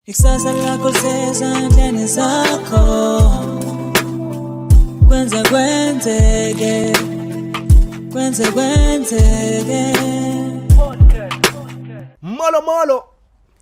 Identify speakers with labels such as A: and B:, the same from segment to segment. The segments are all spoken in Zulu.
A: Ikusasa lakho sezandleni zakho kwenze kwenzeke kwenze kwenzeke
B: molo molo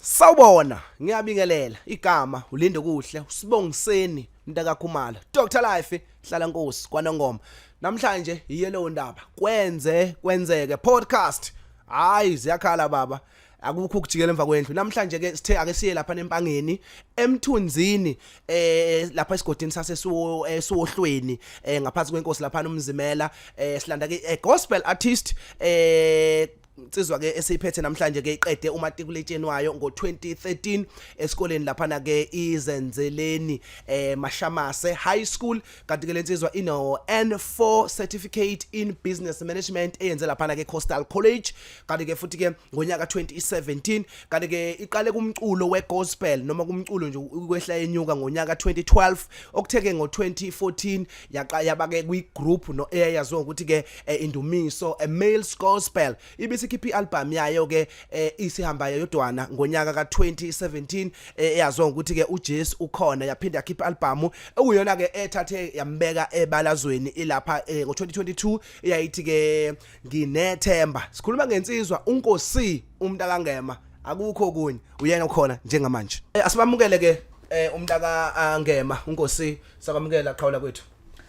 B: sawubona ngiyabingelela igama ulinde kuhle usibongiseni mntakakhumalo Dr Life hlala nkosi kwanongoma namhlanje iyelewo ndaba kwenze kwenzeke podcast hayi ziyakhala baba akukho ukujikela emva kwendlu namhlanje ke sithe ake siye lapha nempangeni emthunzini eh lapha esigodini sase sohlweni eh, eh ngaphansi kwenkosi lapha nomzimela eh silanda ke eh, gospel artist eh insizwa ke esiyiphethe namhlanje ke iqede umatikuletsheni wayo ngo-2013 esikoleni laphana ke izenzeleni eh Mashamase High School kanti ke lensizwa ino N4 certificate in business management eyenze laphana ke Coastal College kanti ke futhi ke ngonyaka 2017 kanti ke iqale kumculo we gospel noma kumculo nje ukwehla yenyuka ngonyaka 2012 okutheke ngo 2014 yaqa yabake kwi group no eyayaziwa ukuthi ke eh, indumiso a male gospel ibisikhipha i-albhamu yayo-ke eh, isihamba yodwana ngonyaka ka-2017 eh, eyaziwa ngokuthi-ke ujesu ukhona yaphinde yakhipha i-albhamu okuyona-ke ethathe yambeka ebalazweni ilapha eh, ngo-2022 eyayithi-ke nginethemba sikhuluma ngensizwa unkosi umuntu akangema akukho okunye uyena okhona njengamanje eh, asibamukele-ke eh, umntaka angema unkosi sabamukela qhawula kwethu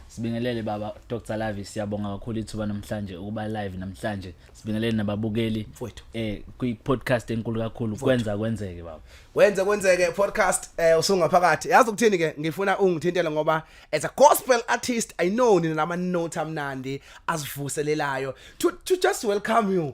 B: Sibingelele baba
C: Dr Lavi siyabonga kakhulu ithuba namhlanje ukuba live namhlanje. Sibingelele nababukeli Mfowethu. eh kwi podcast enkulu kakhulu kwenza kwenzeke baba. Wenze kwenzeke
B: podcast eh usungaphakathi. Yazi ukuthini ke ngifuna ungithintele ngoba as a gospel artist I know nina lama note amnandi asivuselelayo to, to just welcome you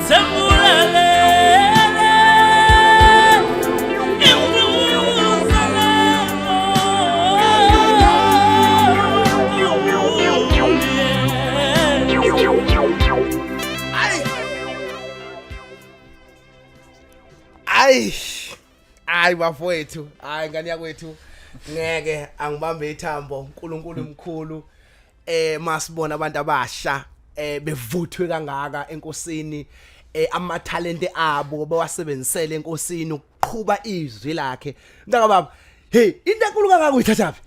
B: hayi bafowethu hayi ngane yakwethu ngeke angibambe ithambo uNkulunkulu mkhulu eh masibona abantu abasha eh bevuthwe kangaka enkosini eh amathalente abo bawasebenzisele enkosini ukuqhuba izwi lakhe mntaka baba hey into enkulu kangaka uyithathaphi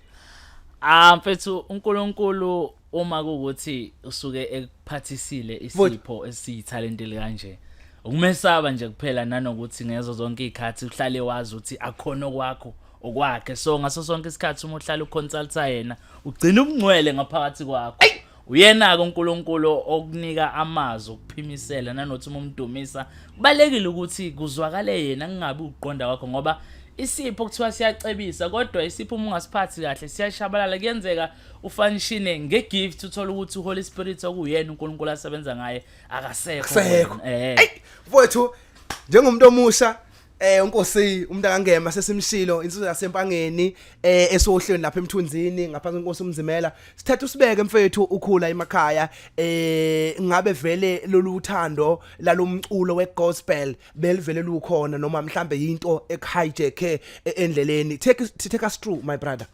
B: ah
C: mfethu uNkulunkulu uma kukuthi usuke ekuphathisile isipho esiyithalente likanje ukumesaba nje kuphela nanokuthi ngezo zonke izikhathi uhlale wazi ukuthi akhona kwakho okwakhe so ngaso sonke isikhathi uma uhlala uconsulta yena ugcina ubungcwele ngaphakathi kwakho uyena-ke unkulunkulu okunika amazwi okuphimisela nanothi uma umdumisa kubalulekile ukuthi kuzwakale yena kungabi ukuqonda kwakho ngoba isipho kuthiwa siyacebisa kodwa isipho uma ungasiphathi kahle siyashabalala kuyenzeka ufanishine ngegift uthole ukuthi uholy spirit okuyena unkulunkulu asebenza ngaye akasekho eh.
B: mfowethu njengomuntu omusha eh unkosi umuntu akangema sesimshilo insizwa yasempangeni eh esohlweni lapha emthunzini ngaphansi kwenkosi umzimela sithatha usibeke mfethu ukhula emakhaya eh ngabe vele lolu uthando lalomculo wegospel belivele lukhona noma mhlambe into ekhijeke e-, endleleni take
C: take us through
B: my brother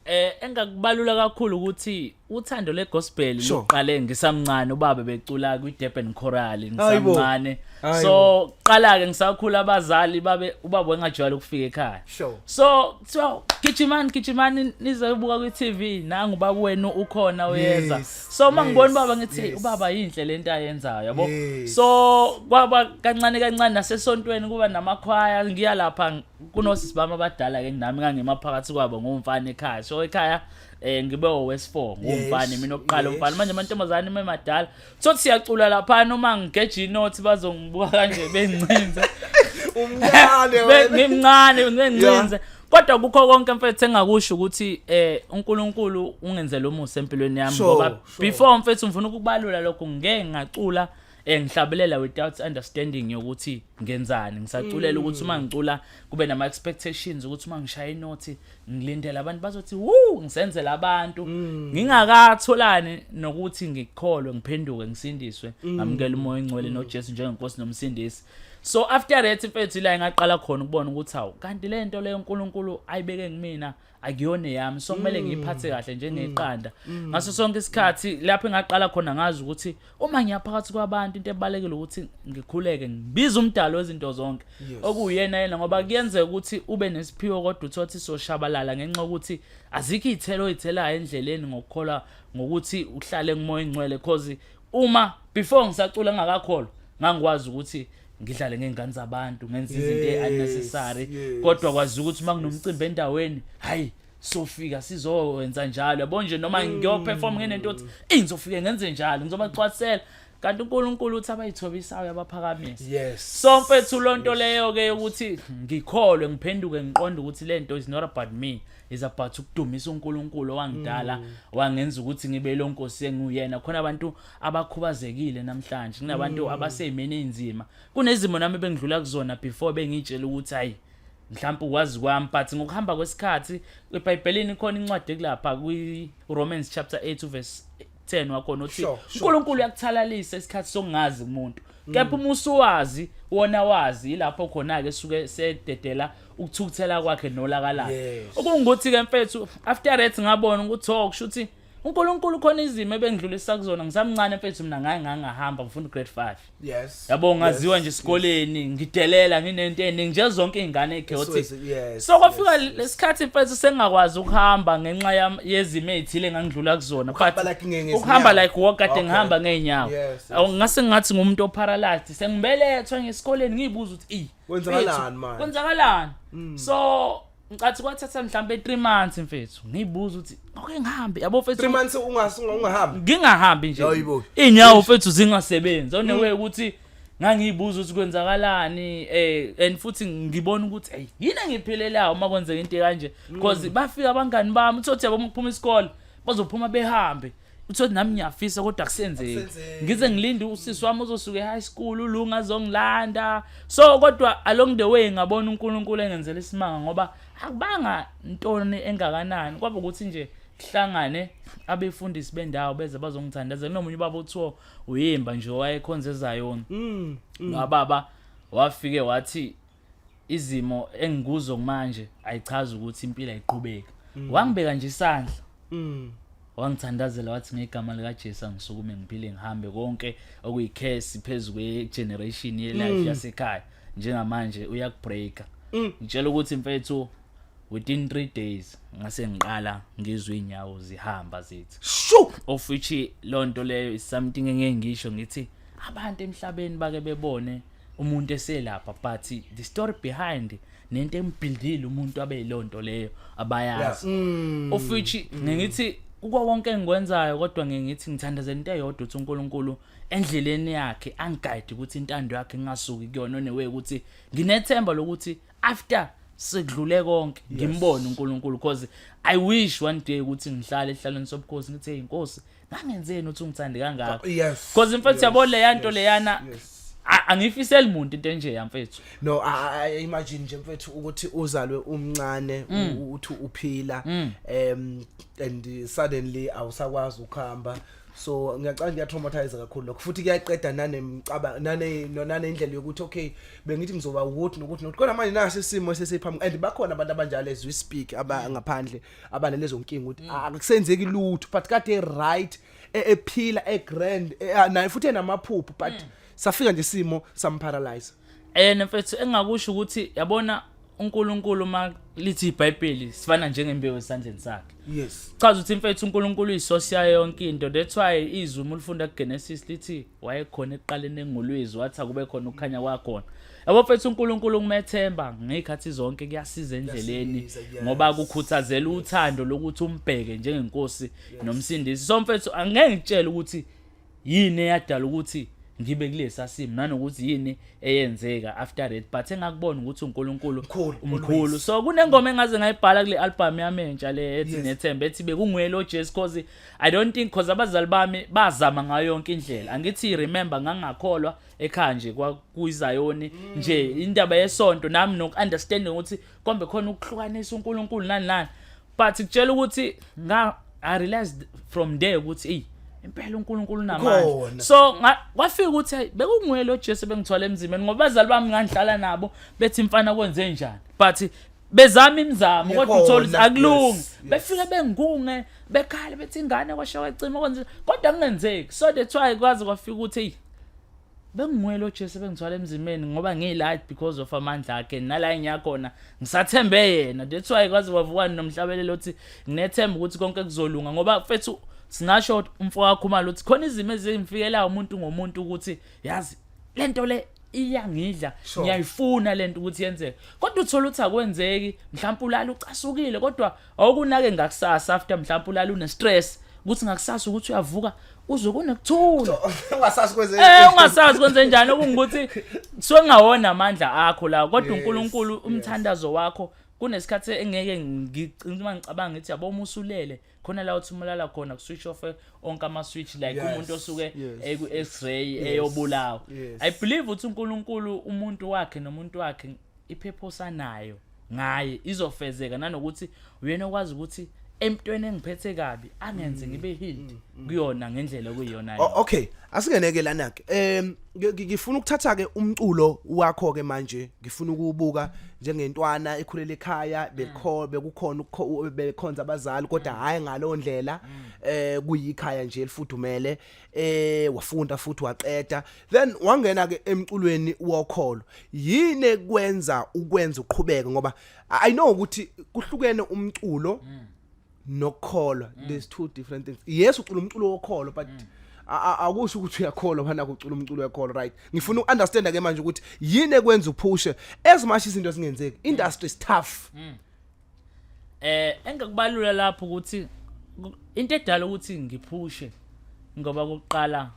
C: Eh
B: engakubalula kakhulu
C: ukuthi uthando legospel Sure. luqale
B: ngisamncane
C: ubaba becula kwiDurban Choral ngisamncane. Hayibo.
B: So qala ke
C: ngisakhula abazali babe ubaba engajwayele ukufika ekhaya. Sure. So
B: so
C: gijimani gijimani nizobuka kwiTV nangu baba wenu ukhona uyeza. Yes, So uma ngibona yes,
B: ubaba ngithi
C: yes. ubaba
B: yinhle
C: lento ayenzayo yabo. Yes. So
B: kwaba
C: kancane kancane nasesontweni kuba namakhwaya ngiya lapha kunosisi bami abadala ke nami ngangima phakathi kwabo ngomfana ekhaya so ekhaya eh ngibe owesifo ngomfana mina oqala umfana manje amantombazane ime madala so siyacula lapha noma ngigeje inothi bazongibuka kanje bencinze umncane
B: wena ngimncane ngencinze
C: kodwa kukho konke mfethu engakusho ukuthi eh uNkulunkulu ungenzele umusa empilweni yami ngoba before mfethu ngifuna ukubalula lokho ngeke ngacula eh ngihlabelela without understanding yokuthi ngenzani ngisaculela ukuthi uma ngicula kube nama expectations ukuthi uma ngishaya inothi ngilindele abantu bazothi wuu ngisenzela abantu ngingakatholani nokuthi ngikholwe ngiphenduke ngisindiswe ngamukela umoya ongcwele noJesu njengenkosi nomsindisi so after that mfethu ila ngaqala khona ukubona ukuthi hawu kanti lento leyo uNkulunkulu ayibeke kumina akuyona eyami so kumele mm. ngiyiphathe kahle njengeqanda mm. mm. ngaso sonke isikhathi lapho engaqala khona ngazi ukuthi uma ngiyaphakathi kwabantu into ebalekile ukuthi ngikhuleke ngibiza umdalo wezinto zonke okuyena yena ngoba kuyenzeka ukuthi ube nesiphiwo kodwa uthothi soshabalala ngenxa ukuthi azikho izithelo oyithelayo endleleni ngokukholwa ngokuthi uhlale kumoya ingcwele cause uma before ngisacula ngingakakholwa ngangikwazi ukuthi ngidlale ngey'ngane zabantu ngenza izinto e-unnecessary kodwa kwazi ukuthi uma kunomcimbi endaweni hhayi sofika sizowenza njalo yabo nje noma mm. ngiyoperform ngenento othi eyi ngizofike ngenze njalo ngizobacwathela kanti uNkulunkulu uthi abayithobisayo abaphakamisa yes so mfethu lonto leyo ke ukuthi ngikholwe ngiphenduke ngiqonde ukuthi lento is not about me is about ukudumisa uNkulunkulu owangidala mm. wangenza ukuthi ngibe lo nkosi enguyena khona abantu abakhubazekile namhlanje kunabantu mm. abasezimeni ezinzima kunezimo nami bengidlula kuzona before bengitshela ukuthi hayi mhlawumbe ukwazi kwami but ngokuhamba kwesikhathi ebhayibhelini khona incwadi ekulapha kwi-romans chapter 8 verse 10 wakhona uthi Sure, sure, uNkulunkulu uyakuthalalisa isikhathi sokungazi umuntu kepha uma usuwazi wona wazi ilapho khona ke suke sededela ukuthukuthela kwakhe nolaka lakhe Yes. okungukuthi ke mfethu after that ngabona ukuthi oh kusho ukuthi uNkulunkulu khona izimo ebengidlulisa kuzona ngisamncane mfethu mina ngaye ngangahamba ngifunda grade 5 yes yabo ngaziwa nje esikoleni ngidelela nginento eningi nje zonke izingane echaotic so kwafika lesikhathi mfethu sengakwazi ukuhamba ngenxa yezimo ezithile engangidlula kuzona but ukuhamba like walk kade ngihamba ngeenyawo ngase ngathi ngumuntu oparalyzed sengibelethwe ngesikoleni ngiyibuza ukuthi i kwenzakalani manje kwenzakalani mm. so ngicathi kwathatha mhlawumbe 3 months mfethu ngiyibuza ukuthi okay ngihambe yabo mfethu 3 months ungasunga
B: ungahambi ngingahambi nje
C: inyawo mfethu zingasebenzi one mm. way ukuthi ngangiyibuza ukuthi kwenzakalani eh and futhi ngibona ukuthi hey yini engiphilelayo uma kwenzeka into kanje because mm. bafika abangani bami uthi yabo ukuphuma isikole bazophuma behambe uthoti nami ngiyafisa kodwa kusenzeki ngize ngilinde usisi wami ozosuke high school ulunga azongilanda so kodwa along the way ngabona uNkulunkulu engenzela isimanga ngoba akubanga ntoni engakanani kwaba ukuthi nje kuhlangane abefundisi bendawo beze bazongithandazela nomunye ubaba othiwa uyimba nje wayekhonza ezayona mm, mm. ngababa wafike wathi izimo engikuzo manje ayichazi ukuthi impilo ayiqhubeki mm. wangibeka nje isandla mm. wangithandazela wathi ngegama likaJesu angisukume ngiphile ngihambe konke okuyikhesi phezulu kwegeneration yelife mm. yasekhaya njengamanje uyakubreaker mm. ngitshela ukuthi mfethu within 3 days ngase ngiqala ngizwe inyawo zihamba zithi shu of which lonto leyo is something engeke ngisho ngithi abantu emhlabeni bake bebone umuntu eselapha but the story behind nento embhildile umuntu abe lonto leyo abayazi mm. of which ngithi kuko konke engikwenzayo kodwa ngithi ngithandaza into eyodwa ukuthi uNkulunkulu endleleni yakhe angiguide ukuthi intando yakhe ingasuki kuyona onewe ukuthi nginethemba lokuthi after sekudlule konke ngimbone uNkulunkulu because i wish one day ukuthi ngihlale ehlalweni sobukhosi ngithi hey inkosi ngangenzeni uthi ungithande kangaka yes because in fact yabo leya nto leyana angifiseli muntu into enje yamfethu no i
B: imagine nje mfethu ukuthi uzalwe umncane mm. uthi uphila mm. um and suddenly awusakwazi ukuhamba so ngiyacanga ngiyatraumatize kakhulu lokho futhi kuyaqeda nanemcaba nane nonane indlela yokuthi okay bengithi ngizoba ukuthi nokuthi nokuthi kodwa manje nasi isimo sesiphambi and bakhona abantu abanjalo as we speak abangaphandle abane lezo nkinga ukuthi ah, akusenzeki lutho but kade right e- ephila egrand e- ah, naye futhi enamaphupho but safika nje isimo samparalyze Eh mfethu
C: engakusho ukuthi yabona uNkulunkulu uma lithi iBhayibheli sifana njengembewu esandleni sakhe. yes Chaza ukuthi
B: mfethu uNkulunkulu
C: uyisource yayo yonke into. That's why izwi uma ulifunda kuGenesis lithi wayekhona ekuqaleni engolwezi wathi akube khona ukukhanya kwakhona. Yabo mfethu uNkulunkulu kumethemba ngezikhathi zonke kuyasiza endleleni ngoba kukhuthazela uthando lokuthi umbheke njengenkosi nomsindisi. So mfethu angeke ngitshele ukuthi yini eyadala ukuthi ngibe kulesa simo nanokuthi yini eyenzeka after that but engakubona ukuthi uNkulunkulu umkhulu so kunengoma engaze ngayibhala kule album yami entsha le ethi nethemba ethi bekunguye lo Jesu cause i don't think cause abazali bami bazama ngayo yonke indlela angithi remember ngangakholwa ekhaya nje kwakuyizayoni mm. nje indaba yesonto nami noku-understanding ukuthi kombe khona ukuhlukanisa unkulunkulu nani nani but kutshela ukuthi i realized from there ukuthi eyi impela uNkulunkulu unamandla so kwafika ukuthi hey bekunguye lo Jesu bengithwala emzimeni ngoba bazali bami ngangihlala nabo bethi mfana kwenze njani but bezama imizamo kodwa uthola ukuthi akulungi befike bengunge bekhala bethi ingane kwashiya kwacima kwenze kodwa kungenzeki so that's why kwaze kwafika ukuthi hey benginguye lo jesu ebengithwala emzimeni ngoba ngiyi-light because of amandla akhe nala engiya khona ngisathembe yena that's why kwaze kwavukani nomhlabeleli othi nginethemba ukuthi konke kuzolunga ngoba fethu singasho umfo wakho umali ukuthi khona izimo ezimfikelayo umuntu ngomuntu ukuthi yazi le nto le iyangidla ngiyayifuna lento ukuthi yenzeke kodwa uthola ukuthi akwenzeki mhlawumbe ulala ucasukile kodwa awukunake ngakusasa after mhlawumbe ulala une stress ukuthi ngakusasa ukuthi uyavuka uze kunekuthula ungasazi kwenze eh ungasazi kwenze njani okungukuthi kusuke kungawona amandla akho la kodwa uNkulunkulu umthandazo wakho kunesikhathi engeke ngicinga uma ngicabanga ngithi yabo uma usulele khona la uthi umlala khona ku switch off onke ama switch like yes. umuntu osuke eku x-ray yes. eyobulawa yes. i believe ukuthi uNkulunkulu umuntu wakhe nomuntu wakhe iphephosa nayo ngaye izofezeka nanokuthi uyena okwazi ukuthi emntweni engiphethe kabi angenze mm. ngibe healed mm, mm. kuyona ngendlela okuyiyona okay asingeneke
B: lana ke em ngifuna ukuthatha ke umculo wakho ke manje ngifuna ukubuka njengentwana ekhulele ekhaya bekho bekukhona bekhonza abazali kodwa hayi ngalo ndlela eh kuyikhaya nje elifudumele eh wafunda futhi waqeda then wangena ke emculweni wokholo yini kwenza ukwenza uqhubeke ngoba i know ukuthi kuhlukene umculo mm. nokukholwa mm. there's two different things yes ucula umculo wokholo but mm. akusho ukuthi uyakholwa bana kucula umculo wekholo right ngifuna uunderstand ke manje ukuthi yini ekwenza uphushe as much izinto zingenzeki industry is tough mm. eh
C: engikubalula lapho ukuthi into edala ukuthi ngiphushe ngoba kuqala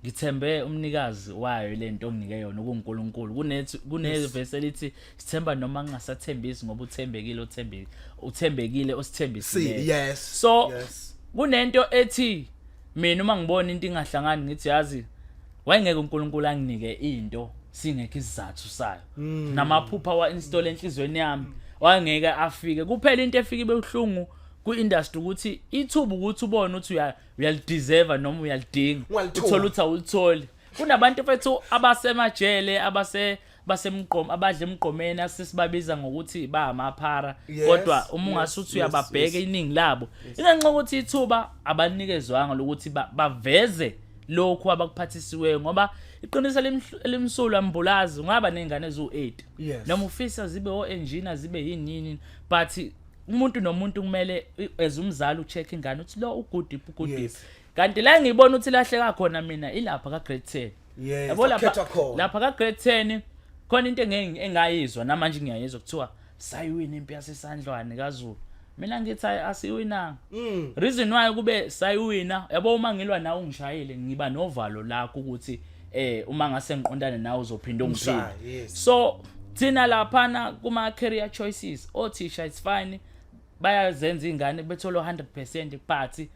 C: ngithembe umnikazi wayo lento onginike yona kuNkulunkulu kunethi kunevesi elithi sithemba noma ngingasathembisi ngoba uthembekile othembekile uthembekile osithembisile yes so yes. kunento ethi mina uma ngibona into ingahlangani ngithi yazi wayengeke uNkulunkulu anginike into singekho isizathu sayo mm. namaphupha wa install enhlizweni yami wayengeke afike kuphela into efike bebuhlungu ku-industry ukuthi ithuba ukuthi ubone ukuthi uyalideserve noma uyalidinga uthole ukuthi awulitholi kunabantu fethu abasemajele abase basemgqom abadla emgqomeni asisibabiza ngokuthi ba amaphara kodwa uma ungasuthi uyababheka iningi labo ingenxa ukuthi ithuba abanikezwanga lokuthi baveze lokhu abakuphathisiweyo ngoba iqiniso elimsulu ambulazi ngaba nezingane eziwu-8 noma ufisa zibe o-engineer zibe yini yini but umuntu nomuntu kumele as umzali ucheck ingane uthi lo ugudiphi ugudiphi kanti la ngiyibona ukuthi lahleka khona mina ilapha ka grade 10 Yes, yabo lapha wakhethwa khona. lapha ka grade 10 khona into engeke engayizwa namanje ngiyayizwa kuthiwa sayiwina impi yasesandlwane kaZulu mina ngithi ayi, asiwinanga Mm. reason why kube sayiwina yabo uma ngilwa nawe ungishayile ngiba novalo lakho ukuthi eh uma ngase ngiqondane nawe uzophinda ungiphile Ungishaya, yes. so thina laphana kuma career choices othisha it's fine bayazenza ingane bethola 100% party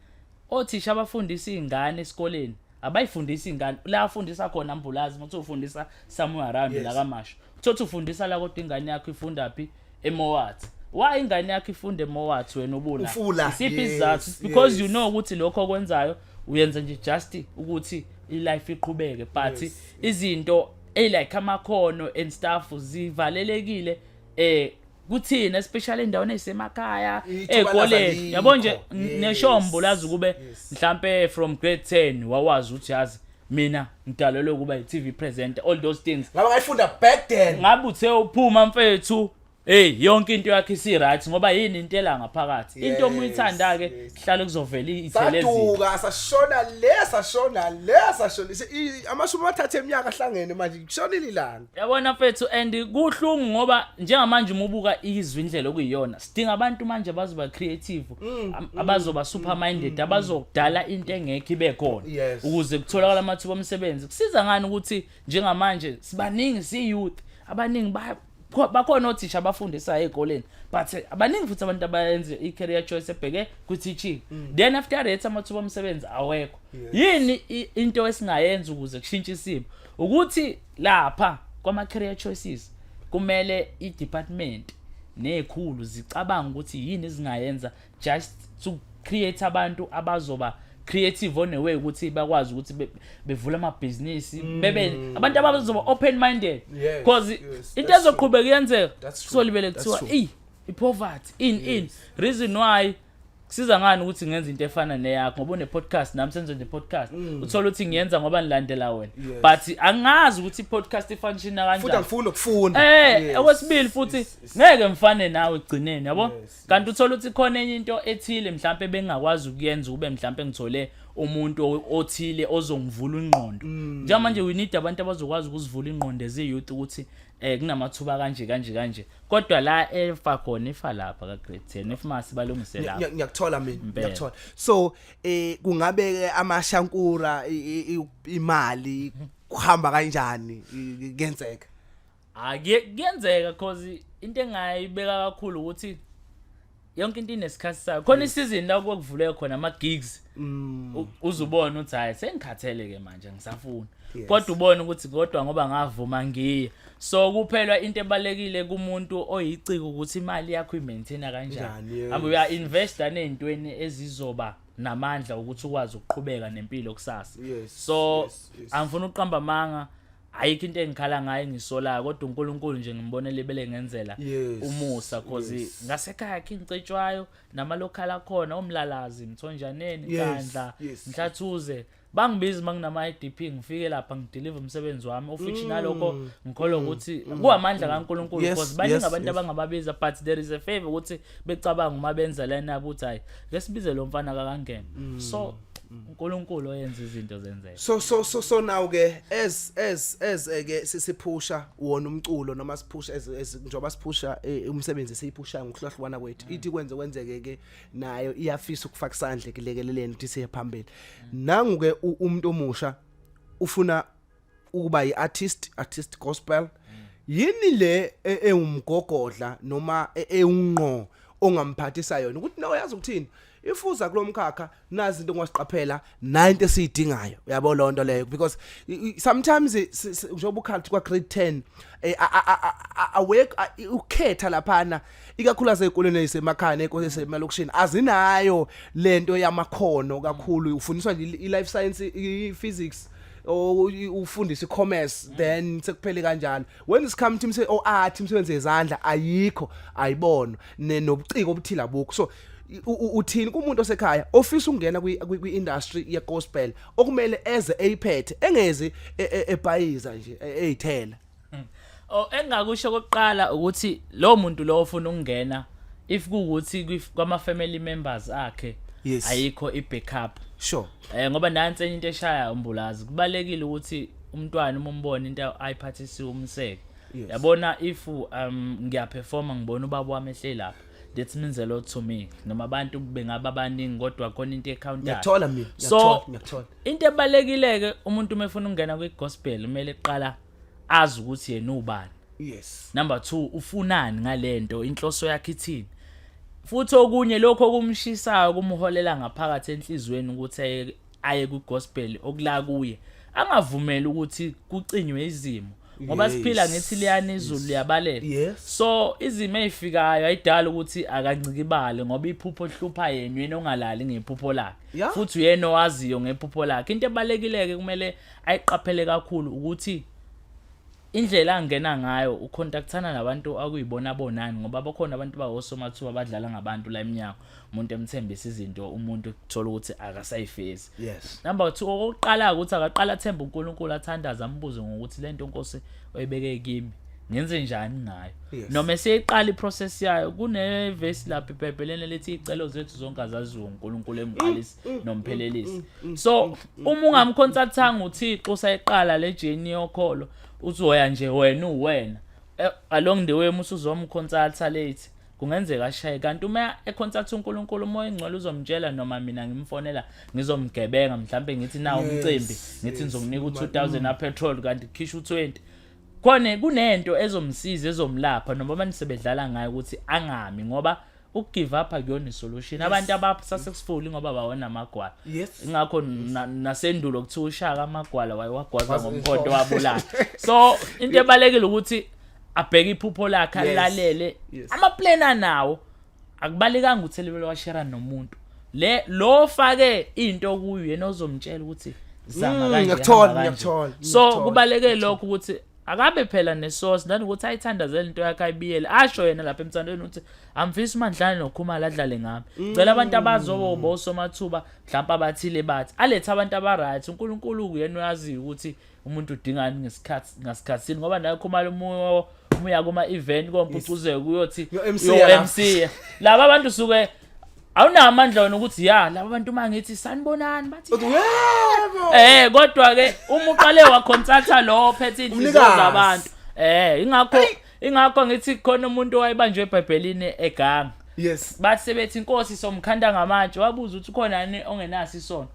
C: Othisha abafundisa izingane esikoleni abayifundisa ingane la afundisa khona mbulazi muthu ufundisa somewhere around yes. la kamasho uthothi ufundisa la kodwa ingane yakho ifunda phi emowathi why ingane yakho ifunde emowathi wena ubula isiphi isizathu yes, because yes. you know ukuthi lokho okwenzayo uyenza nje just ukuthi ilife iqhubeke but yes. izinto elike amakhono and stuff zivalelekile eh kuthina especially endaweni ezisemakhaya ezikoleni yabo nje neshombo lazi ukube mhlambe from grade 10 wawazi ukuthi yazi mina ngidalelwe ukuba yi-TV presenter all those things ngaba ngayifunda back
B: then ngabe uthe uphuma
C: mfethu hey yonke into yakhe isi right ngoba yini into ela ngaphakathi yes, into omuyithanda ke sihlale yes. kuzovela ithelezi saduka sashona
B: le sashona le sashona amashumi amathathu eminyaka ahlangene manje kushonile ilanga yabona mfethu and
C: kuhlungu ngoba njengamanje uma ubuka izwi indlela okuyiyona sidinga abantu manje abazoba creative mm, am- mm, abazoba super minded abazokudala into engekho ibe khona Yes. ukuze kutholakala amathuba omsebenzi kusiza ngani ukuthi njengamanje sibaningi si-youth abaningi ba- kho- bakhona othisha abafundisayo ey'koleni but eh, abaningi futhi abantu abayenze i-career choice ebheke kwi-teaching then after that amathuba omsebenzi awekho yini i- into esingayenza ukuze kushintshe isimo ukuthi Lapha kwama career choices kumele i department nezikhulu zicabanga ukuthi yini ezingayenza just to create abantu abazoba creative on a way ukuthi bakwazi ukuthi bevule amabhizinisi mm. bebe abantu abazoba open minded because into ezoqhubeka iyenzeka solibele kuthiwa i poverty in in reason why kusiza ngani ukuthi ngenza into efana neyakho ngoba une-podcast nami senze nje podcast mm. uthole ukuthi ngiyenza ngoba nilandela wena but angazi ukuthi i-podcast ifanishina kanjanifuthi angifuni ukufunda
B: um okwesibili futhi
C: ngeke ngifane nawe ekugcineni yabo kanti uthole ukuthi khona enye into ethile mhlawumpe bengingakwazi ukuyenza ukube mhlawumpe ngithole umuntu othile ozongivula ingqondo mm. njengamanje we need abantu abazokwazi ukuzivula ingqondo ezi-youth ukuthi eh kunamathuba kanje kanje kanje kodwa la efa khona ifa lapha ka grade 10 if masi balungise lapha ngiyakuthola mina ngiyakuthola
B: so eh kungabe ke amashankura imali kuhamba kanjani kuyenzeka
C: akuyenzeka ah, cause into engayibeka kakhulu ukuthi yonke into inesikhathi sayo khona isizini la kwakuvuleke khona ama-gigs mm. u- uze ubone ukuthi hhayi sengikhathele-ke manje ngisafuna Yes. kodwa ubone ukuthi kodwa ngoba ngavuma ngiye so kuphelwa into ebalulekile kumuntu oyiciko ukuthi imali yakho imaintaina Njani, kanjani yes. hamba uya-investa ney'ntweni ezizoba namandla ukuthi ukwazi ukuqhubeka nempilo kusasa Yes, so yes, yes. angifuni ukuqamba amanga ayikho into engikhala ngayo engisolayo kodwa uNkulunkulu nje ngimbonela ibele ngenzela Yes, umusa cause yes. ngasekhaya khe ngicetshwayo nama local akhona omlalazi mthonjaneni Yes, kandla yes. mhlathuze bangibizi manginama IDP ngifike lapha ngideliver umsebenzi wami ofiction nalokho ngikholwa ukuthi kuwamandla kaNkulunkulu Mm. Yes, because baningi yes, abantu yes. abangababiza but there is a favor ukuthi becabanga uma benza lena ukuthi hayi ngesibize lo mfana kakangena Mm. so uNkulunkulu oyenza izinto zenzeke so so so so now
B: ke as as as eh, ke sisiphusha wona umculo noma siphusha as as njengoba siphusha eh, umsebenzi siyiphusha ngokuhlahlwana kwethu ithi kwenze kwenzeke ke nayo iyafisa ukufaka isandla kulekeleleni ukuthi siye phambili nangu ke u- umuntu omusha ufuna ukuba yiartist artist gospel yini le e- ewumgogodla noma e- ewunqo ongamphathisa yona ukuthi nawe yazi ukuthini ifuza kulomkhakha nazi into ngwasiqaphela 90 siyidingayo uyabo lonto leyo because i- i- sometimes i- si- si- njengoba ukhathi kwa grade 10 eh, a- a- a- a- awake a- i- ukhetha laphana ikakhulu asezikoleni ezisemakhaya nenkolo esemalokishini azinayo lento yamakhono kakhulu ufundiswa nje i- i-life science i-physics ufundisa icommerce mm. then sekuphele kanjalo when is come team say o oh, art imsebenze yezandla ayikho ayibona nobuciko obuthila bukho so uthini kumuntu osekhaya ofisa ukungena kwi industry ye gospel okumele eze eyiphethe engezi e, e, ebhayiza nje e, eyithela Hmm. Oh
C: engakusho kokuqala ukuthi lo muntu lo ofuna ukungena if kuwuthi kwama family members akhe yes. ayikho i backup sure eh
B: ngoba nansi enye
C: into eshaya umbulazi kubalekile ukuthi umntwana uma umbona into ayiphathisiwe umseke yes. yabona if um ngiyaperforma ngibona ubaba wami ehleli lapha that means a lot to me noma abantu bengaba abaningi kodwa khona into ecounter ngiyathola mina so
B: ngiyathola
C: into ebalekileke umuntu uma efuna ukungena kwi gospel kumele kuqala azi ukuthi yena ubani yes number 2 ufunani ngalento inhloso yakhe ithini futhi okunye lokho okumshisayo kumholela ngaphakathi enhlizweni ukuthi aye ku gospel okula kuye angavumeli ukuthi kucinywe izimo ngoba siphila ngethi liyana izulu liyabalela so
B: izimo
C: ezifikayo ayidala ukuthi akancikibale ngoba iphupho lihlupha yena yena ongalali ngephupho lakhe futhi uyena
B: owaziyo
C: ngephupho lakhe into ebalekileke kumele ayiqaphele kakhulu ukuthi indlela angena ngayo ukhontakthana nabantu akuyibona bonani ngoba bakhona abantu bawosomathuba abadlala ngabantu la eminyango umuntu emthembisa izinto umuntu kuthola ukuthi akasayifezi yes number
B: 2 okokuqala
C: ukuthi akaqala athembe uNkulunkulu athandaza ambuze ngokuthi lento inkosi oyibeke kimi ngenze njani ngayo noma eseyiqala iprocess yayo kunevesi lapha ibhebhelene lethi icelo zethu zonke azaziwo uNkulunkulu emqalisi mm, mm, mm, nomphelelisi so uma ungamconsultanga uthixo usayiqala le journey yokholo uzoya nje wena uwena eh, along the way musa uzomconsulta late kungenzeka ashaye kanti uma econsulta uNkulunkulu umoya ingcwele uzomtshela noma mina ngimfonela ngizomgebenga mhlambe ngithi nawo umcimbi ngithi ngizokunika u2000 na petrol kanti khisha u20 khona kunento ezomsiza ezomlapha noma banisebedlala ngayo ukuthi angami ngoba ukugive up akuyona isolution abantu abasasekufuli ngoba bawona amagwala ingakho nasendulo kuthiwa ushaka amagwala wayewagwaza ngomkhonto wabulala so into ebalekile ukuthi abheke iphupho lakhe alalele amaplan anawo akubalekanga ukuthi elibele washera nomuntu le lo ofake into kuyo yena ozomtshela ukuthi zama mm, kanje ngiyakuthola ngiyakuthola so kubaleke lokho ukuthi akabe phela nesource nanokuthi ayithandazele into yakhe ayibiyele asho yena lapha emthandweni ukuthi angifisi umandlane nokhumala adlale ngami cela abantu mm. abazoba osomathuba mhlawumbe abathile bathi alethe abantu abaright unkulunkulu uyena uyaziyo ukuthi umuntu udingani ngesikhathi ngasikhathini ngoba naye khumala umuya kuma-event kompucuzeko uyothi yo-mc laba abantu suke awunawo amandla wena ukuthi ya laba bantu uma ngithi sanibonani bathi yebo eh kodwa ke uma uqale waconsulta lo ophethe inhliziyo Umnikazi. zabantu eh ingakho ingakho ngithi khona umuntu owayebanjwe ebhayibhelini eganga yes bathi sebethi inkosi somkhanda ngamatshe wabuza ukuthi ukhona yini ongenaso isono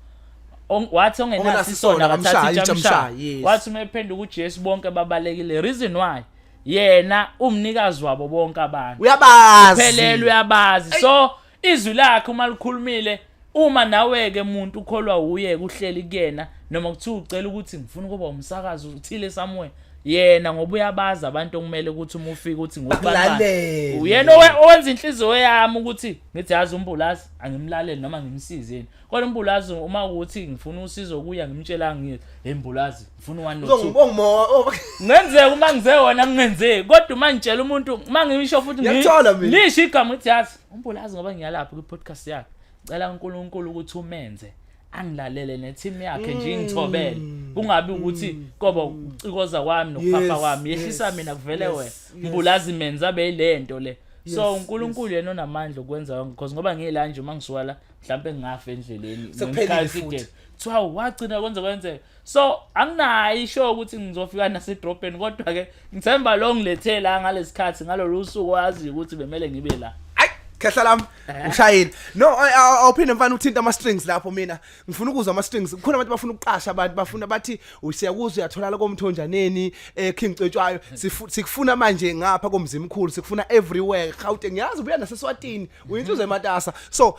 C: Ong- wathi ongenaso Ongenaso isono isono, akathathi akamshayi, itshe amshaye, itshamshaye yes. wathi uma ephenduka ujesu bonke babalekile reason why yena umnikazi wabo bonke abantu uyabazi phelele
B: uyabazi
C: so izwi lakhe uma likhulumile uma nawe ke muntu ukholwa uye kuhleli kuyena noma kuthiwa ucela ukuthi ngifuna ukuba umsakazi uthile somewhere yena ngoba uyabazi abantu okumele ukuthi uma ufika uthi ngokubalale uyena owenza inhliziyo yami ukuthi ngithi yazi umbulazi angimlaleli noma ngimsizeni kodwa umbulazi uma ukuthi ngifuna usizo kuya ngimtshela ngithi hey mbulazi ngifuna one no two Uzongibonga uma oh, ngenzeka uma ngize wona kungenzeki kodwa uma ngitshela umuntu uma ngisho futhi ngi- Ngiyakuthola mina. lisho igama ukuthi yazi umbulazi ngoba ngiyalapha kwi-podcast yakhe cela unkulunkulu ukuthi umenze angilalele ne-team yakhe nje ingithobele kungabi ukuthi koba ukucikoza kwami nokuphapha Mm. Yes, kwami yehlisa yes, mina kuvele yes, wena yes. mbulazi menza abe yile nto le so Yes, unkulunkulu yena onamandla okwenza konke because ngoba ngiyela nje uma ngisuka la mhlawumpe ngingafa endleleni Sekuphelile ngesikhathi futhi. side. kuthiwa wagcina kwenze kwenzeka so anginayo isho ukuthi ngizofika nasedrobheni kodwa ke ngithemba lo ngilethe la ngalesikhathi ngalolu suku wazi ukuthi bemele ngibe la ayi khehla lami
B: eh. ushayile no awuphinde mfana uthinta ama strings lapho mina ngifuna ukuzwa ama strings kukhona abantu bafuna ukuqasha abantu bafuna bathi usiyakuzwa uyatholala komthonjaneni eh King Cetshwayo sikufuna manje ngapha komzimkhulu sikufuna everywhere Gauteng ngiyazi ubuya naseswatini uyintuze ematasa so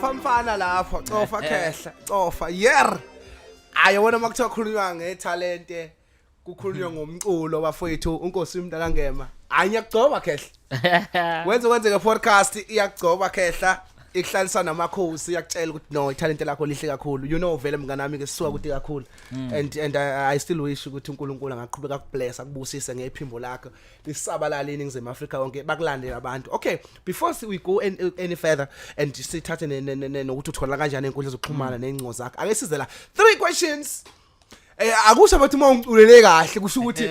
B: cofa mfana lapho cofa eh, eh. khehla cofa yer ayi wena uma kuthiwa khulunywa ngethalente kukhulunywa ngomculo bafowethu unkosi umntaka ngema anye kugcoba khehla wenze kwenzeke podcast iyakugcoba khehla ikuhlalisa namakhosi yakutshela ukuthi no ithalente lakho lihle kakhulu you know vele mnganami ke sisuka kude kakhulu mm. and and I, I still wish ukuthi uNkulunkulu angaqhubeka kubless akubusise ngephimbo lakho lisabalale iningizimu Africa wonke bakulandela abantu okay before we go any, any further and sithathe nokuthi uthola kanjani inkundla zokuxhumana mm. nencingo zakho ake size la three questions Eh akusho bathi uma ungiculele kahle kusho ukuthi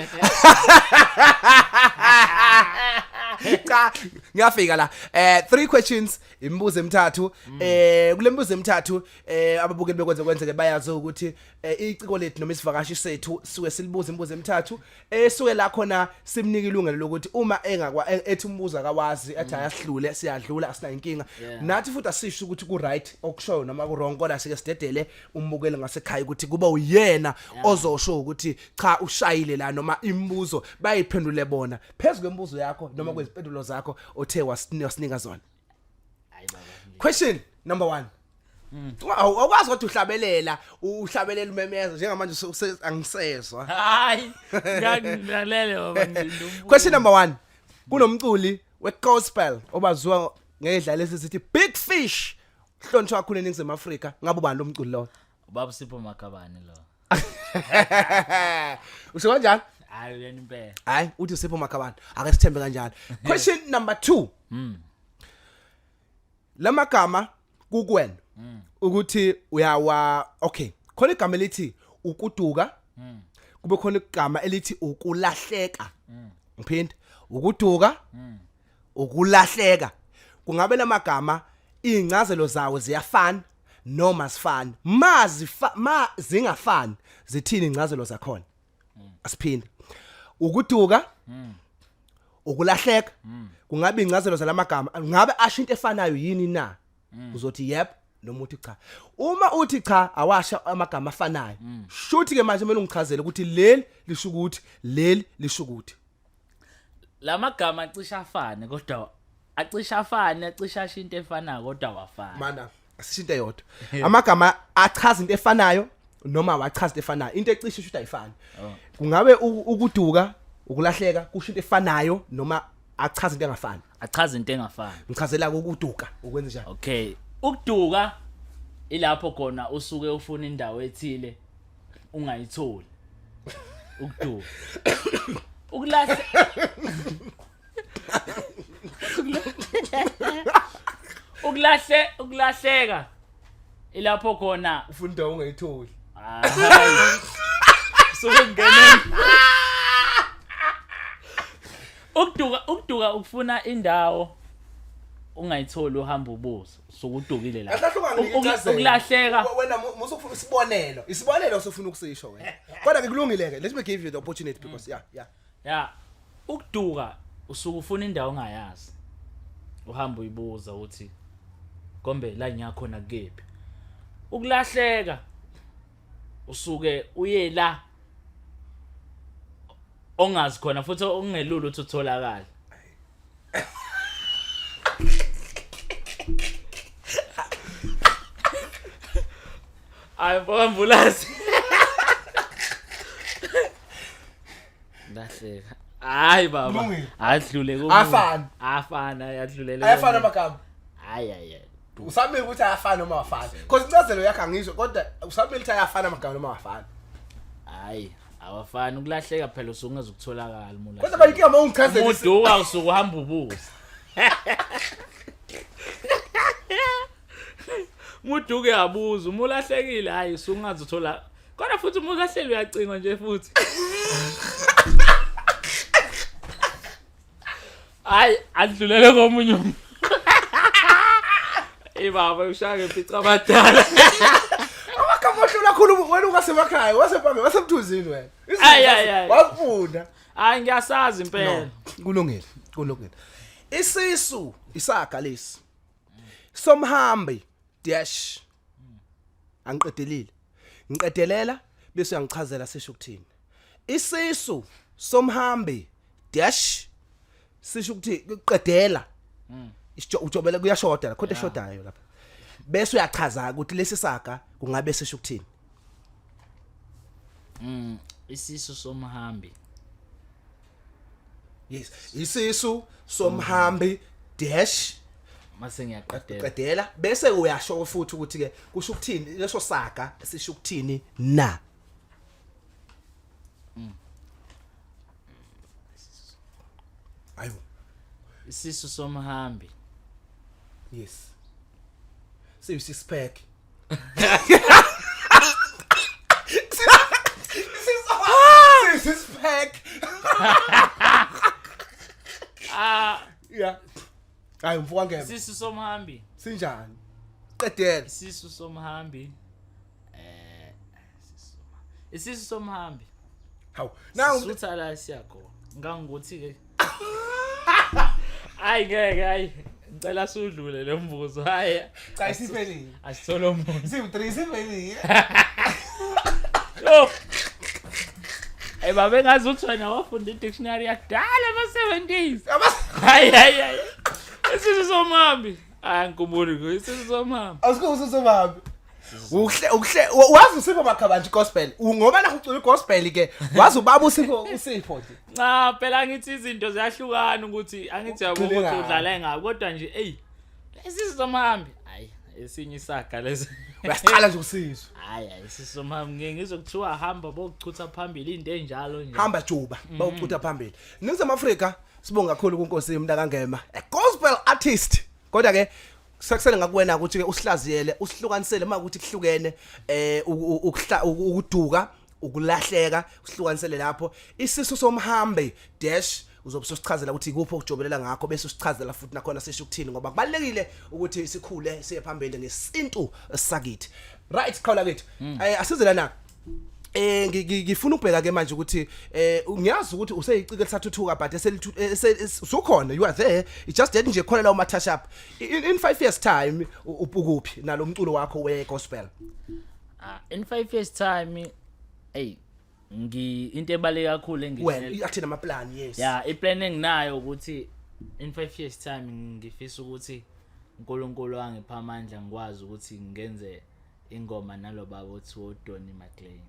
B: cha ngiyafika la eh three questions imibuzo emithathu eh kulemibuzo emithathu eh ababukeli bekwenze kwenzeke bayazi ukuthi eh, iciko lethu noma isivakashi sethu suke silibuza imibuzo emithathu esuke la khona simnika ilungelo lokuthi uma engakwa ethi umbuzo akawazi athi ayahlule siyadlula asina inkinga Yeah. nathi futhi asisho ukuthi ku right okushoyo noma ku wrong kodwa sike sidedele umbukeli ngasekhaya ukuthi kuba uyena ozosho ukuthi cha ushayile la noma imibuzo bayiphendule bona phezulu kwemibuzo yakho noma kwezimpendulo zakho othe wasini- wasinika zona Hayi baba. ngeke. question number one Mm. Wa- awu- awukwazi kodwa uhlabelela u- uhlabelela umemeza njengamanje use- use- angisezwa Hayi.
C: Ngiyakulalele baba ngilinde umbuzo. question number one
B: kunomculi we-gospel obaziwa ngedlala esithi big fish hlonitshwa kakhulu eningizimu afrika ngabe ubani lo mculi lowo Ubaba Sipho
C: Makabane lo.
B: usho kanjani hayi uyena impela
C: hayi uthi usipho makhabana
B: ake sithembe kanjalo question number 2 mm. lamagama kukwena mm. ukuthi uyawa okay khona igama elithi ukuduka mm. kube khona igama elithi ukulahleka mm. ngiphinde ukuduka mm. ukulahleka kungabe lamagama incazelo zawo ziyafana noma sifana ma zifa ma zingafani zithini incazelo zakhona asiphinde ukuduka ukulahleka kungabe incazelo zalamagama ngabe asho into efanayo yini na uzothi yep noma uthi cha uma uthi cha awasha amagama afanayo shuthi ke manje kumele ungichazele ukuthi leli lisho ukuthi leli lisho ukuthi la
C: magama acisha afane kodwa acisha afane acisha asho into efanayo kodwa wafana mana asisho into
B: eyodwa amagama achaza into efanayo noma wachaza into efanayo into ecishe isho ukuthi ayifani Oh. kungabe u- ukuduka ukulahleka kusho into efanayo noma achaza into engafani achaza into engafani
C: ngichazela ukuduka
B: ukwenza njani okay ukuduka
C: ilapho khona usuke ufuna indawo ethile ungayitholi ukuduka ukulahla ukulahle ukulahleka ilapho khona ufunda ungayitholi sokungena ukuduka ukuduka ukufuna indawo ungayitholi uhamba ubuso sukudukile la ukulahleka wena musa
B: ufuna isibonelo isibonelo usufuna ukusisho wena kodwa ngikulungile ke let me give you the opportunity because mm. yeah yeah yeah ukuduka
C: usuke ufuna indawo ongayazi uhamba uyibuza ukuthi kombe la ngiyakhona kephi ukulahleka usuke uye la ongazi khona futhi okungelula ukuthi utholakala Ay, po ambulance. Ndahleka. Hayi baba. Kulungile. Adlule komunye. Afana. Afana yadlulela. ayafana komunye. amagama
B: Hayi hayi. hayi.
C: usamele ukuthi
B: ayafana noma awafani cause incazelo yakhe angizwe kodwa usamele ukuthi ayafana amagama noma awafani Hayi.
C: awafani ukulahleka phela usuke ungazukutholakala mula Kodwa bayinkinga uma ungichazela isi-
B: umuduka usuke uhamba
C: ubuza muduke yabuza uma ulahlekile hayi usuke ungazuthola kodwa futhi uma ulahleli uyacingwa nje futhi hayi adlulele komunye umuntu Ey baba ushaya ngempica abadala.
B: Amagama ohlula khulu wena ungasemakhaya wasephambi wasemthunzini wena. Ay ay ay. Wafunda. Hayi
C: ngiyasazi impela. Kulungile,
B: kulungile. Isisu isaga lesi. Somhambi dash angiqedelile ngiqedelela bese uyangichazela sisho ukuthini isisu somhambi dash sisho ukuthi kuqedela ujobele kuyashoda la khona eshodayo lapha bese uyachaza ukuthi lesi saga kungabe sisho ukuthini
C: mm isisu somhambi
B: yes isisu somhambi dash mase
C: ngiyaqedela qedela bese
B: uyasho futhi ukuthi ke kusho ukuthini leso saga sisho ukuthini na mm. ayo
C: isisu somhambi
B: yes siyisisphek This is pack. Ah, Yeah. Hayi mfuka ngeke. isisu somhambi.
C: Sinjani?
B: Qedela. Isisu somhambi.
C: isisu somhambi hawu
B: nawu sutha la siyakhona
C: ngangokuthi ke hayi ngeke hayi ngicela sudlule lo mbuzo hayi cha isiphelile
B: asisolo umuntu
C: siwu 3
B: isiphelile yo
C: Hey babe ngazi ukuthi wena wafunda i-dictionary yakudala ama-70s. Hayi hayi hayi. Isisu somhambi. Hayi ngikubuli ngo isisu somhambi. Asikho usisu somhambi.
B: uhle uhle wazi usipho makhabanje gospel ngoba la ucula gospel ke wazi ubaba usipho usipho nje cha phela
C: ngithi izinto ziyahlukana ukuthi angithi yabo ukuthi udlala ngabo kodwa nje ey lezi zomhambi hayi esinye isaga lezi uyasicala nje
B: usizwe hayi hayi sisomhambi
C: ngeke ngizokuthiwa hamba bokuchutha phambili into enjalo nje hamba juba mhm. bokuchutha
B: phambili ningize Afrika sibonga kakhulu kunkosi yomntaka ngema a gospel artist kodwa ke sekusele ngakuwena ukuthi ke usihlaziyele usihlukanisele uma ukuthi kuhlukene eh ukuduka ukulahleka usihlukanisele lapho isisu somhambi dash uzobe usichazela ukuthi ikuphi okujobelela ngakho bese usichazela futhi nakhona sisho ukuthini ngoba kubalekile ukuthi sikhule siye phambili ngesintu sakithi right qhawula kithi hmm. eh asize lana Eh ngifuna ubheka ke manje ukuthi eh ngiyazi ukuthi useyicike lisathuthuka but eselisukhona you are there it just that nje khona la uma touch up in 5 years time upukuphi nalomculo wakho we gospel ah
C: in 5 years time hey ngi into ebaleke kakhulu engithi wena athina ama
B: plan yes yeah i plan enginayo
C: ukuthi in 5 years time ngifisa ukuthi uNkulunkulu angipha amandla ngikwazi ukuthi ngenze ingoma nalobaba othi wodoni maclean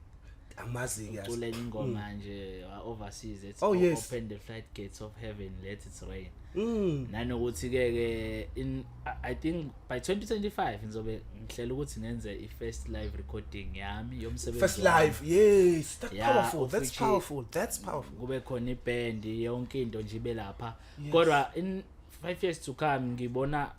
C: amazinga
B: ucule ingoma hmm. nje
C: uh, overseas ethi oh, yes. open the flight gates of heaven let it rain mm. nanokuthi ke ke in i think by 2025 ngizobe ngihlela ukuthi ngenze i first live recording yami yomsebenzi first live yes
B: that's yeah, powerful that's powerful that's powerful kube khona
C: iband yonke into nje ibe lapha kodwa in 5 years to come ngibona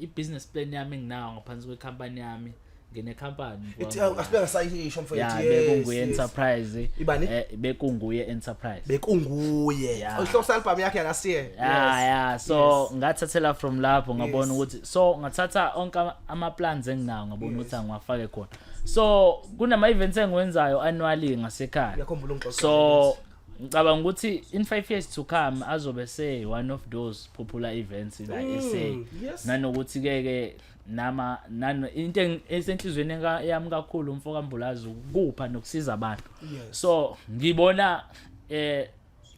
C: i-business plan yami enginawo ngaphansi kwekhampani yami nginekhampani ithi awu, asibe ngasayisho
B: mfowethu ya yes, bekunguye yes.
C: enterprise Ibani? eh, bekunguye enterprise bekunguye
B: Yeah. ohlose album yakhe yakasiye ya ya so Yes.
C: ngathathela from lapho ngabona Yes. ukuthi so ngathatha onke ama- ama-plans enginawo ngabona ukuthi angiwafake khona so kunama-events engiwenzayo annually ngasekhaya Uyakhumbula ungixoxela so ngicabanga ukuthi in 5 years to come azobe se one of those popular events la mm, SA yes. nanokuthi ke ke nama nano into esenhlizweni yami kakhulu umfo kaMbulazi ukupha nokusiza abantu yes. so ngibona eh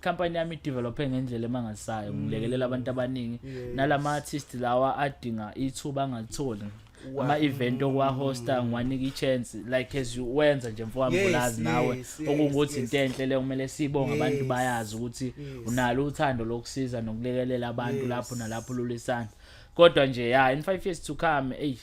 C: company yami develope ngendlela emangasayo mm. ngilekelela abantu abaningi yes. nalama artist lawa adinga ithuba angalitholi ama event okwahosta ngiwanika ichance like as you wenza nje mfowami Yes, bulazi nawe yes, yes, okungukuthi yes. into enhle le kumele sibonge abantu Yes, bayazi ukuthi yes. unalo uthando lokusiza nokulekelela abantu Yes. lapho nalapho lulisana kodwa nje ya in 5 years to come ey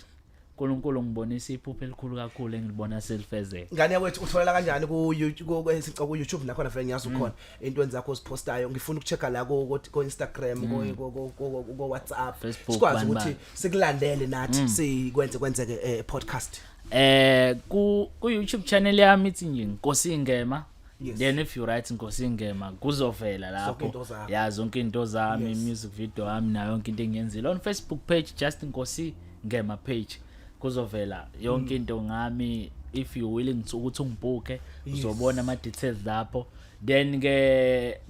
C: uNkulunkulu ngibonisa iphupho elikhulu kakhulu engilibona selifezeka ngane yakwethu utholela
B: kanjani ku YouTube ku- ku- ku- YouTube nakhona vele ngiyazi ukhona entweni zakho siphostayo ngifuna ukuchecka la ko ko Instagram mm. ko ko ko WhatsApp sikwazi ukuthi sikulandele nathi mm. sikwenze kwenzeke eh, podcast eh ku
C: ku YouTube channel yami ithi nje Nkosi Ngema Yes. Then if you write Nkosi Ngema kuzovela lapho. Ya zonke into zami, music video yami nayo yonke into engiyenzile on Facebook page just Nkosi Ngema page. kuzovela yonke mm. into ngami if you willing to ukuthi ungibhuke uzobona ama details lapho then ke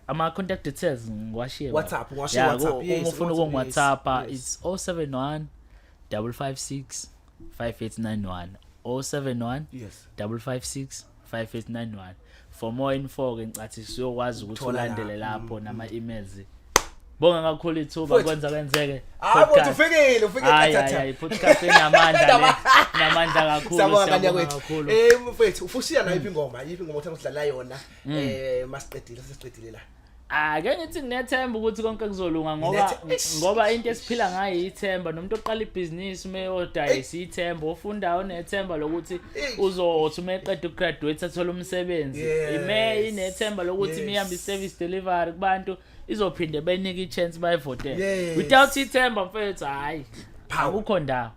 C: ama contact details ngiwashiye WhatsApp ngiwashiye
B: WhatsApp uma ufuna
C: uku WhatsApp it's 071 556 5891 071 yes 556 5891 for more info ke ngicathi siyokwazi ukuthi Uthola la. ulandele lapho nama emails bonga kakhulu ithuba Mfowethu. kwenza kwenzeke hayi mfowethu Podcast. ufikile
B: ufikile Hayi, hayi, hayi, podcast
C: enamandla le namandla kakhulu Siyabonga kanya siyabonga kwethu. kakhulu
B: Eh mfethu, ufushiya nayo iphi ingoma? Iphi ingoma othe usidlala yona? Eh masiqedile sesiqedile la. Ake ngithi
C: nginethemba ukuthi konke kuzolunga ngoba ngoba into esiphila ngayo ithemba nomuntu oqala ibhizinisi ume odayisa ithemba ofunda unethemba lokuthi uzothi uma eqeda ukugraduate athole umsebenzi ime inethemba lokuthi mihambe i-service delivery kubantu izophinde benike i-chance bayivotele without ithemba mfethu hhayi akukho ndawo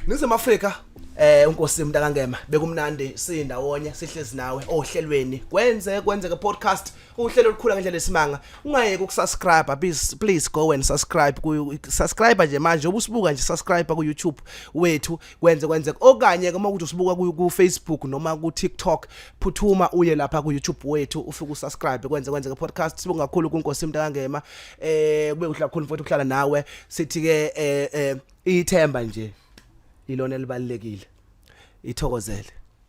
C: ningizimu afrika
B: eh unkosi mntakangema bekumnandi siyindawonye sihlezi nawe ohlelweni kwenze kwenzeke podcast uhlelo olukhula ngendlela esimanga ungayeki ukusubscribe please please go and subscribe ku subscribe nje manje ubusibuka nje subscribe ku YouTube wethu kwenze kwenze okanye uma ukuthi usibuka ku Facebook noma ku TikTok phuthuma uye lapha ku YouTube wethu ufike usubscribe kwenze kwenze podcast sibonga kakhulu kunkosi mntakangema eh kube kuhle kakhulu mfowethu ukuhlala nawe sithi ke eh, eh ithemba nje ilona elibalekile ithokozele